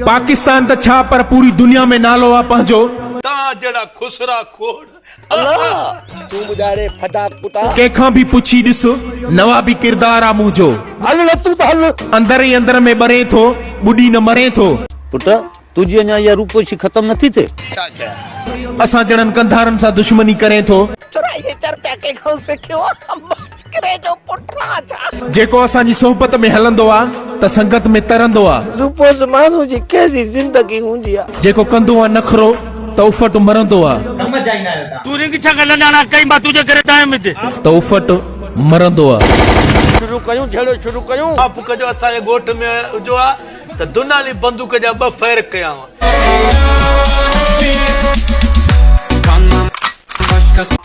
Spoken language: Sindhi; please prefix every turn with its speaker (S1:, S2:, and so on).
S1: پاڪستان ته ڇا پر پوري دنيا ۾ نالو آ پنهنجو. تان جهڙا
S2: خسرا کوڙ.
S3: تون ٻڌاء ري فدا ڪتا. ڪنهن کان به پڇي
S1: ڏس نوابي ڪردار آ منهنجو. هل نه تون ته هل.
S3: اندر ئي اندر ۾ ٻرين
S1: ٿو ٻڏي نه مرين ٿو. پٽ
S3: تنهنجي اڃا اها روپوشي ختم نٿي ٿئي. ڇا ڪيان. اسان جهڙن
S1: ڪنڌارن سان دشمني ڪرين ٿو. ڇورا هيء چرچا
S3: ڪنهن کان سکيو آ. ٻڪري جو پٽ آهان ڇا؟ جيڪو اسان جي صحبت
S1: ۾ هلندو آ ته سنگت ۾ ترندو آ. روپوس ماڻهو جي
S3: ڪهڙي زندگي هوندي آ. جيڪو ڪندو آ نخرو
S1: ته افٽ مرندو آ. ڪم جائيندا آهيو تان. تون رنگ
S2: ڇا ڳالهه ناڻا ڪئي مان تنهنجي ڪري تان آيم هتي. ته افٽ
S1: مرندو آ. شروع ڪيون
S3: جهيڙو شروع ڪيون. ماپ ڪجو اسان جي
S2: ڳوٺ ۾ هجو ها ته دونالي بندوق جا ٻه فير ڪيا ها.